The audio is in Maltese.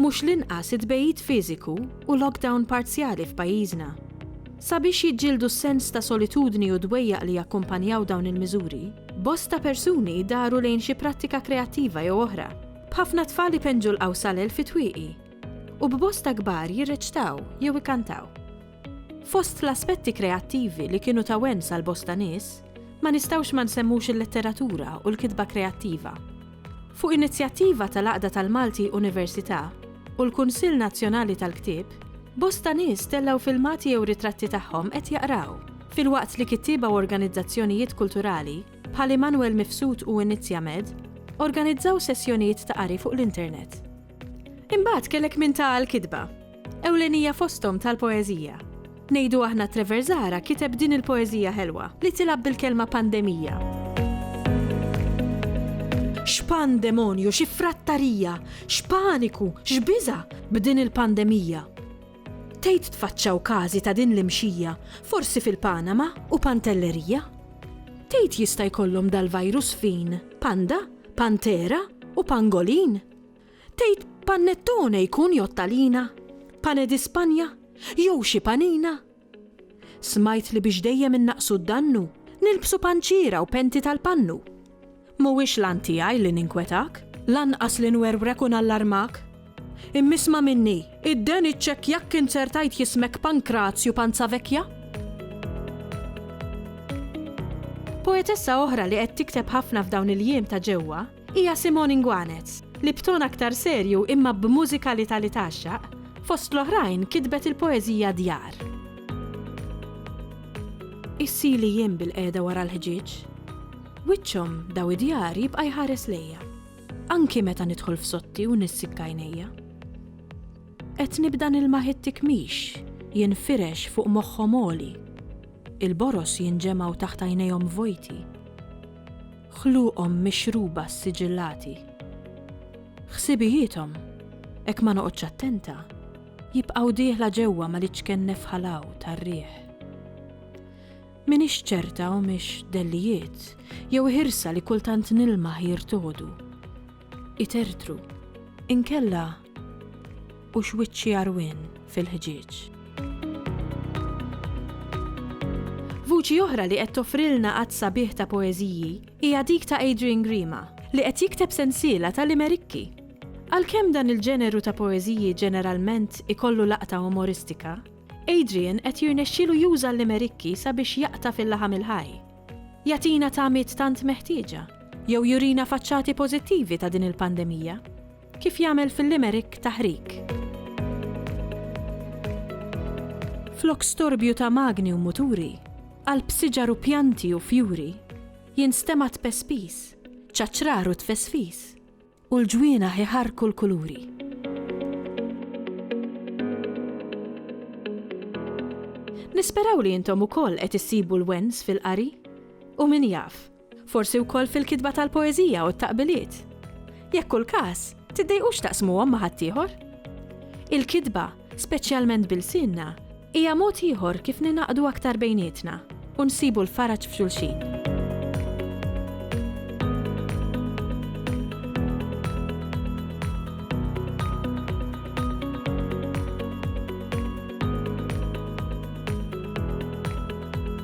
Mhux l-inqas it-tbegħid fiżiku u lockdown parzjali f'pajjiżna. Sabiex jiġġieldu s-sens ta' solitudni u dwejjaq li jakkumpanjaw dawn il-miżuri, bosta persuni daru lejn xi prattika kreattiva jew oħra, b'ħafna tfal ipenġu l-qawsalel fit-twieqi u b'bosta kbar jirreċtaw jew ikantaw. Fost l-aspetti kreattivi li kienu ta' wens għal bosta nies, ma nistgħux ma nsemmux il-letteratura u l-kitba kreattiva. Fuq inizjattiva tal-Għaqda tal-Malti Università u l-Kunsill Nazzjonali tal-Ktieb, bosta nies tellgħu filmati jew ritratti tagħhom qed jaqraw, filwaqt li kittieba u organizzazzjonijiet kulturali, bħal Immanuel Mifsud u Inizjamed, organizzaw sessjonijiet ta' qari fuq l-internet. Imbagħad kellek min ta' għall-kitba, Ewlenija fosthom tal-poeżija. Ngħidu aħna Treverzara kiteb din il-poeżija ħelwa, li tilgħab bil-kelma pandemija. X'pandemonju, xi frattarija, x'paniku, x'biża' b'din il-pandemija. Tgħid tfaċċaw każi ta' din l-imxija, forsi fil-Panama u Pantellerija? Tgħid jista' jkollhom dal-virus fin, panda, pantera u pangolin? Tgħid panettone jkun jew talina, pane di Spanja jew xi panina? Smajt li biex dejjem innaqqsu d-dannu, nilbsu panċiera u penti tal-pannu. Mhuwiex l-għan tiegħi li ninkwetak, lanqas li nwerwrek u nallarmak. Imma isma' minni, id-den iċċekkjak kien ser tgħid jismek Pankrazju Panzavecchia? Poetessa oħra li qed tikteb ħafna f'dawn il-jiem ta' ġewwa, hija Simone Ingwanez, li b'ton aktar serju imma b'mużikalità li tgħaxxaq, fost l-oħrajn kitbet il-poeżija Djar. Issili jiem bilqiegħda wara l-ħġieġ. Wiċċhom daw id-djar jibqa' jħares lejja. Anki meta nidħol f'sotti u nissikka għajnejja. Qed nibda nilma' it-tikmix jinfirex fuq moħħhom għoli. Il-boros jinġemgħu taħt għajnejhom vojti. ħluqhom mixruba ssiġillati. Ħsibijiethom, hekk ma noqgħodx attenta, jibqgħu dieħla ġewwa mal-iċken nefħalaw tar-riħ. M'iniex ċerta humiex dellijiet jew ħirsa li kultant nilmaħ jirtogħdu, itertru, inkella u x'wiċċi għarwien fil-ħġieġ. Vuċi oħra li qed toffrilna għadd sabiħ ta' poeżiji hija dik ta' Adrian Grima, li qed jikteb sensiela ta' limerikki. Għalkemm dan il-ġeneru ta' poeżiji ġeneralment ikollu laqta umoristika, Adrian qed jirnexxielu juża l-limerikki sabiex jaqta' fil-laħam il-ħaj. Jagħtina tagħmiet tant meħtieġa, jew jurina faċċati pożittivi ta' din il-pandemija. Kif jagħmel fil-limerick taħrig. Flok storbju ta' magni u muturi, qalb siġar u pjanti u fjuri, jinstema' tpespis, ċaċrar u tfesfis, u l-ġwienaħ iħarrku l-kuluri. Nisperaw li intom ukoll qed issibu l-wens fil-qari. U min jaf, Forsi wkoll fil-kitba tal-poeżija u t-taqbiliet? Jekk hu l-każ, tiddejqux taqsmuhom ma' ħaddieħor. Il-kitba, speċjalment b'ilsienna, hija mod ieħor kif ningħaqdu aktar bejnietna u nsibu l-faraġ f'xulxin.